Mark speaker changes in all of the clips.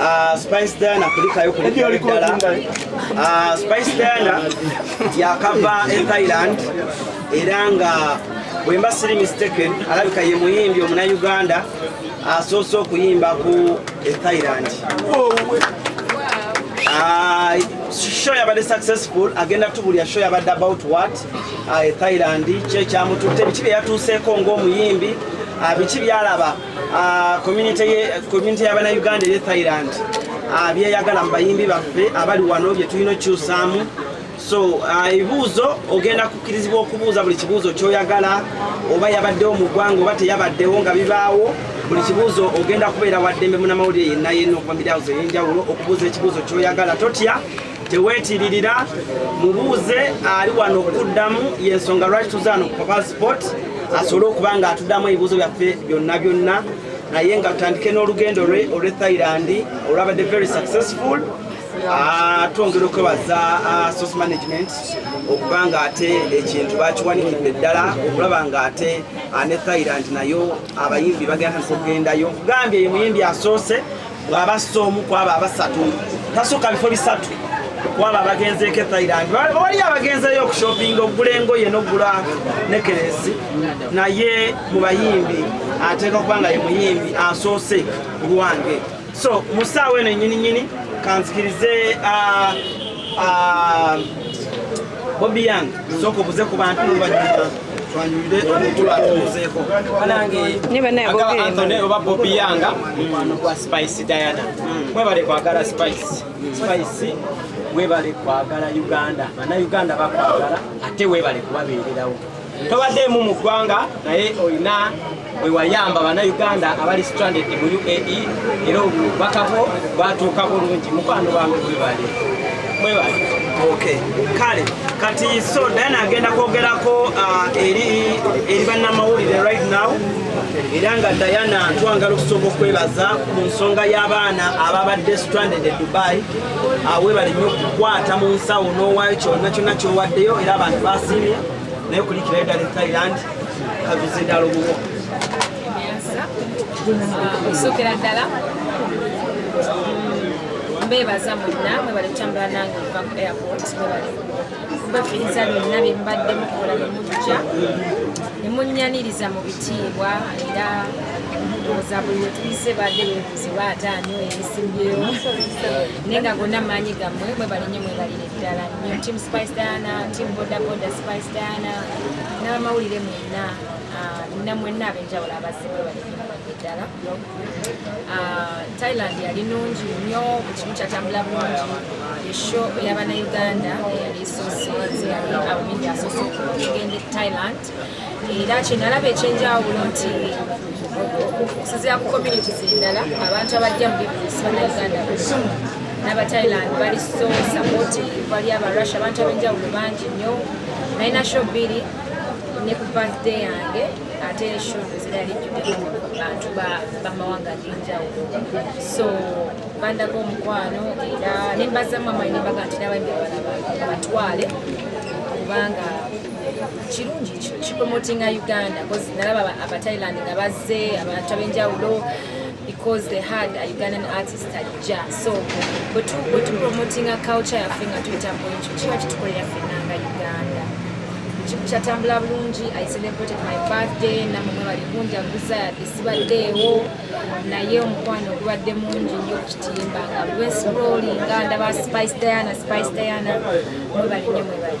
Speaker 1: Ah, Spice Diana kulikayo kulikayo ddala ah, Spice Diana yakava e Thailand era nga bwemba siri mistaken alabika ye muyimbi omuna Uganda asoose okuyimba ku e Thailand ah, show yabadde successful agenda tubulya show yabadde about what e Thailand kyekyamututte biki byeyatuuseeko ng'omuyimbi biki byalaba Ah, community y'abana uganda eri thailand ah, byeyagala mu bayimbi baffe abali wano byetulina okyusaamu so ah, ebibuuzo ogenda kukkirizibwa okubuuza buli kibuuzo kyoyagala oba yabaddewo mu ggwanga oba teyabaddewo nga bibaawo buli kibuuzo ogenda kubeera waddembe munamawulire yenna yenna okuva miryazo eyenjawulo okubuuza ekibuuzo kyoyagala totya teweetiririra mubuuze ali wano okuddamu yensonga lwaki tuzaano ku papa sport asobole okuba nga atuddamu ebibuuzo byaffe byonna byonna naye nga tutandike n'olugendo lwe olw'e thailand olwabadde very successful ah, twongera okwebaza ah, source management okuba nga ate ekintu bakiwanikidde ddala okulaba nga ate ah, ne thailand nayo abayimbi bagenda okugendayo gambye ye muyimbi asoose bw'aba asse omu ku abo abasatu tasukka bifo bisatu ku abo abagenzeeko ethailand waliyo abagenzeeyo okushoppinga okugula engoye n'okugula nekeresi naye mu bayimbi ateeka okuba nga ye muyimbi asoose ku lwange so mu ssaawa eno nyininyini kanzikirize ah, ah, bobi yange sooka obuze ku bantu noluvanyuma twanyumide omukulu atubuzeeko banange agaba
Speaker 2: anthony oba bobi yanga mukwano gwa spice diana mwebale kwagala spice spice webale kwagala uganda bana uganda bakwagala ate webale kubabeererawo tobadeemu mu ggwanga naye olina bwe wayamba bannayuganda abali stranded mu uae era obubaka bwo bwatuuka bulungi mukwano wange bwebale mwebale okay
Speaker 1: kale kati so dana agenda kwogerako uh, eri eri bannamawulire right now era nga diana twangala okusooka okwebaza mu nsonga y'abaana ababadde stranded e dubai uh, webale nnyo okukwata mu nsawo n'owaayo kyonna kyonna kyowaddeyo era abantu basiimye naye okulikirayo dala e thailand
Speaker 3: kusukira ddala mbeebaza mwenna mwebali kutambula nange okuva ku airport mwebali kubafiiriza byonna bye mubadde mukola ne mujja ne munnyaniriza mu bitiibwa era ndowooza buli wetuyise badde bebuuzi baataani oyo ebisimbyewo naye nga gonna maanyi gammwe mwebali nnyo mwebalire ddala nyo team spice diana team boda boda spice diana n'abamawulire mwena ah, nina mwena abenjawulo abazibwe balibange ddala ah, thailand yali nungi nyo ekimu kyatambula bulungi esho eyabanauganda eyali esosi yali abamingi asosi okugenda e thailand era kyenalaba ekyenjawulo nti okusinzira ku community zendala abantu abajja mu bibuusi banauganda n'abathailand bali so sapoti bali abarussia abantu abenjawulo bangi nnyo naye nasho bbiri ne ku birthday yange ate eshodo zirali jjudemu bantu bamawanga agenjawulo so bandaga omukwano era nembazamu amayi nembaga nti nabaimbi abalaba abatwale kubanga kirungi kipromotinga uganda bcause nalaba abathailand nga bazze abantu abenjawulo because they had a ugandan artist ajja so bwetupromotinga culture yaffe nga tuyita muekyo kiba kitukolera fenna nga uganda kyatambula bulungi i celebrated my birthday namumwe bali kunjaguza yadde sibaddeewo naye omukwano ogubadde mungi nyo okukitimba nga lwensroli nga ndaba spice diana spice diana mwebalinyo mwebali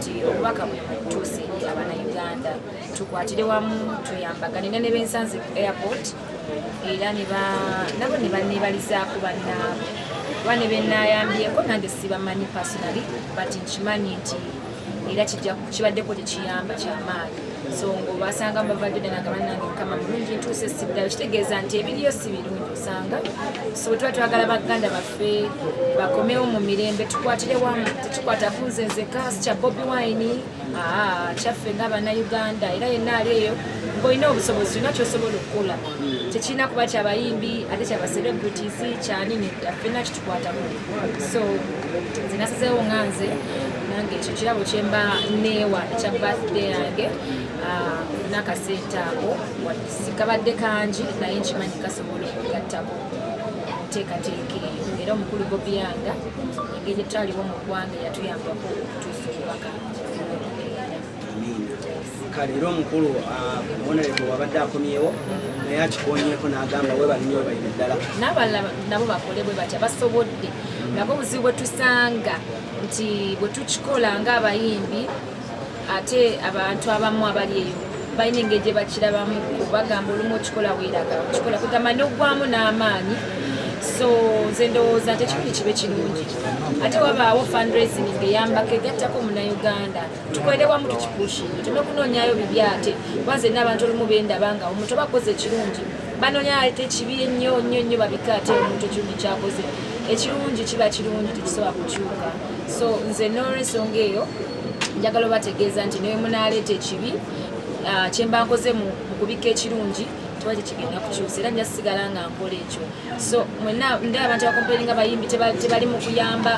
Speaker 3: nti obubaka buno butuuse eri abanauganda tukwatire wamu tuyambagane ne nebensanze ku airport era nabo ne banebalizaako bannaabwe kuba ne benayambyeko nange sibamanyi personally but nkimanyi nti era kibaddeko tekiyamba kyamaanyi so ngaobasanga mubavadde ddala nga banange mukama mulungi ntuuse sibdala kitegeeza nti ebiriyo si birungi osanga so bwetuba twagala baganda baffe baffe bakomewo mu mirembe tukwatire wamu tetukwata kunze nze kasi kya bobi wine kyaffe nga bannayuganda era yenna ali eyo ngaolina obusobozi olina kyosobola okukola tekirina kuba kyabayimbi ate kya bacelebrities kyanini affena kitukwatamu so nze nasazeewo nga nze nange ekyo kirabo kyemba neewa ekya birthday yange nakasente ako sikabadde kangi naye nkimanyi kasobola okugattako enteekateeka eyo era omukulu gobiyanga engeri etaliwo mu ggwanga yatuyambako okutuusa
Speaker 1: obubaka kale era omukulu ah, omuwonereko wabadde akomyewo naye akikonyeko n'agamba webalinyo webalina ddala n'abalala nabo
Speaker 3: bakole bwe batya basobodde nabwo obuzibu bwe tusanga nti bwe tukikola ng'abayimbi ate abantu abamu abali eyo balina engeri gye bakirabamu bagamba olumu okikola weeraga okikola kugamba n'oggwamu n'amaanyi so nze ndowooza nti ekikulu kibe kirungi ate wabaawo fundraising ngeyambako egattako munauganda tukolere wamu tukipushinga tulina okunoonyayo bibi ate kuba nze naabantu olumu bendaba nga omuntu oba akoze ekirungi banoonya ate kibi ennyo nnyo nnyo babika ate omuntu ekirungi kyakoze ekirungi kiba kirungi tekisobola kukyuka so nze n'olwensonga eyo njagala obategeeza nti naye munaaleeta ekibi ah, kyemba nkoze mu kubikka ekirungi kiba tekigenda kukyusa era nja sigala nga nkola ekyo so mwena nde abantu bakompere nga bayimbi tebali mu kuyamba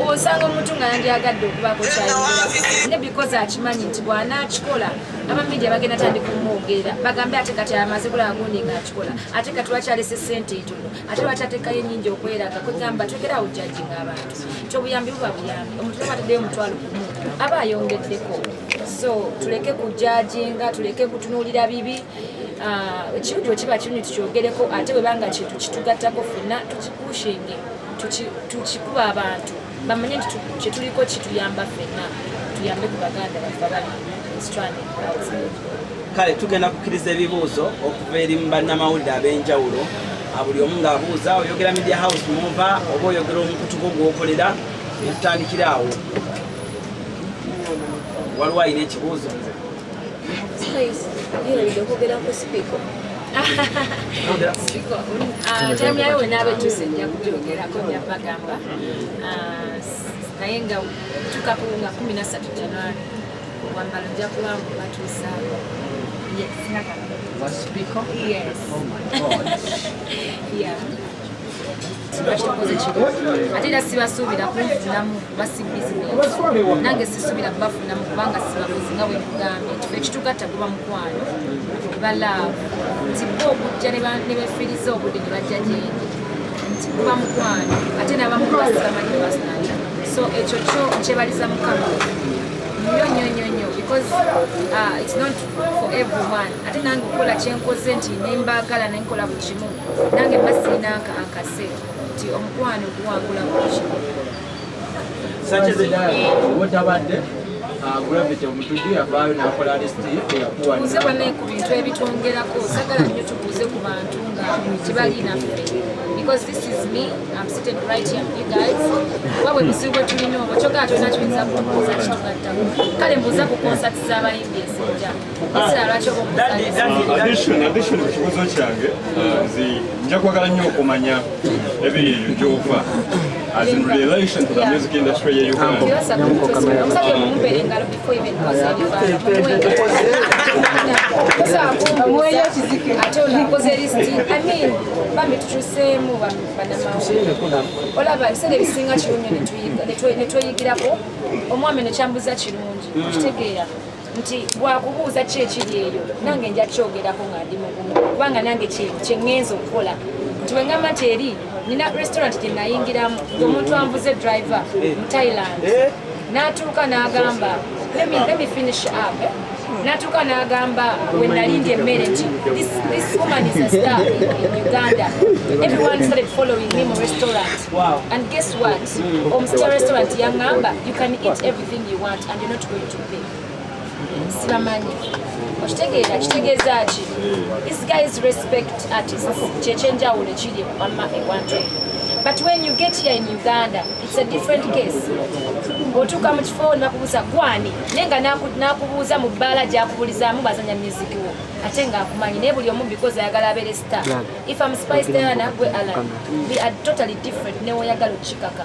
Speaker 3: osanga omuntu nga yandyagadde okubaako kyayogera ne bikoze akimanyi nti bwanaakikola abamidia bagenda tandika omwogeera bagambe ate kati amaze kulaba gundi nga akikola ate kati wakyalese sente etono ate lwaki ateekayo enyingi okweraga kwegamba twekera awo jajinga abantu kyobuyambi buba buyambi omuntu nobataddeyo omutwalo gumu aba ayongeddeko so tuleke kujajinga tuleke kutunuulira bibi ah, ekintu uh, kiba kintu tukyogereko ate webanga kintu kitugattako fenna tukikushinge tukikuba abantu bamanye nti kyetuliko kituyamba fenna tuyambe ku baganda baffe abali kale tugenda
Speaker 1: kukkiriza ebibuuzo okuva eri mu bannamawulire ab'enjawulo buli omu ng'abuuza oyogera media house muva oba oyogera omukutu gwo gwokolera netutandikira awo waliwo alina ekibuuzo
Speaker 3: taimu yayo wena abetuuse nja kubyongerako nja bagamba naye nga tukaku nga kumi nasatu januari wambalo nja kuba batuusaako Yes. Yes. Oh my God. yeah. bakitukoze kino ate era sibasuubira kunfunamu kuba si bizinesi nange sisuubira kubafunamu kubanga sibakozi nga bwekugambye kife ekitugatta guba mukwano ba laavu nti bo okujja ne befiriza obudde ne bajja gyendi nti guba mukwano ate nabamu basibamanyi ne basunalira so ekyo kyo kyebaliza mukama nyo nyo nyo nyo because uh, it's not for everyone ate nange okukola kyenkoze nti nembaagala nenkola buli kimu nange mbasiina akase nti omukwano guwangula muki
Speaker 2: otabadde gravity omutuju yavaayo nakola listiyakuwanze
Speaker 3: bane ku bintu ebitwongerako sagala nnyo tubuuze ku bantu nga tebali naffe because this is me I'm sitting right here you guys oba bwe buzibu bwe tulina obwo kyogala tolina tuyinza kubuuza kitugattako kale mbuuza ku konsati z'abayimbi ezinjamu addition
Speaker 4: addition ku kibuuzo kyange nzi nja kwagala nnyo okumanya ebiri eyo gyova as in relation to the music industry ye uganda olaba ebiseera
Speaker 3: ebisinga kirungi netweyigirako omwami nekyambuza kirungi okitegeera nti bwakubuuza ki ekiri eyo nange nja kyogerako nga ndi mugumu kubanga nange kyeŋŋenza okukola nti weŋamba nti eri nina restaurant gye nayingiramu omuntu anvuze driver mu thailand eh? n'atuuka n'agamba let me finish up eh? natuka nagamba wenalindi emmere nti this woman is a star in uganda everyone started following me mu restaurant and guess what omusita restaurant yangamba you can eat everything you want and you're not going to sibamanyi okitegeera kitegeeza ki this guys respect artists kyekyenjawulo ekiri wamma ewantu eyo but when you get here in uganda it's a different case otuuka mu kifo nebakubuuza gwani naye nga nakubuuza mu bbaala gyakubulizaamu bazanya music wo ate nga akumanyi naye buli omu because ayagala abeere star if am spice diana gwe alan we are totally different newoyagala okukikaka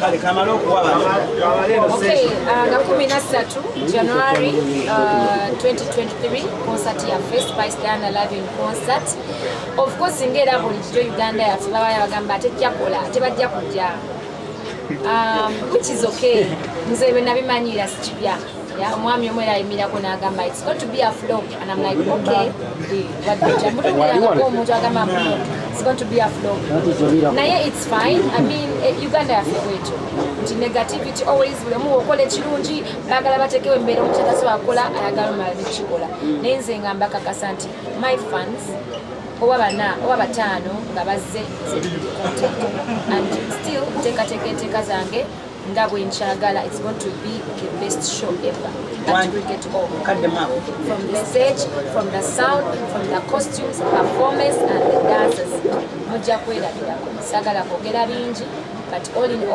Speaker 1: kale kamala
Speaker 3: okuwa nga kumi na ssatu january 2023 uh, concert ya first by stana loving concert of course ngaera bulijjo uganda yaffe babaya bagamba tejjakola tebajja kujja um, which is okay nze byo nabimanyira sikibya Yeah, omwami omu era ayimirako n'agamba it's got to be a flop and I'm like okay omuntu agamba mbu it's going to be a flop naye it's fine I mean eh, Uganda yaffe bwetyo nti negativity always buli omu okola ekirungi baagala batekewo embeera omuntu atasobola kukola ayagala omala nekikola naye nze nga mbakakasa nti my fans oba bana oba bataano nga bazze and still nteekateeka enteeka zange nga bwenkyagala it's going to be the best show ever at cricket all cut them up from the stage from the sound from the costumes performance and the dances mujja kwerabirako sagala kwogera bingi but all in all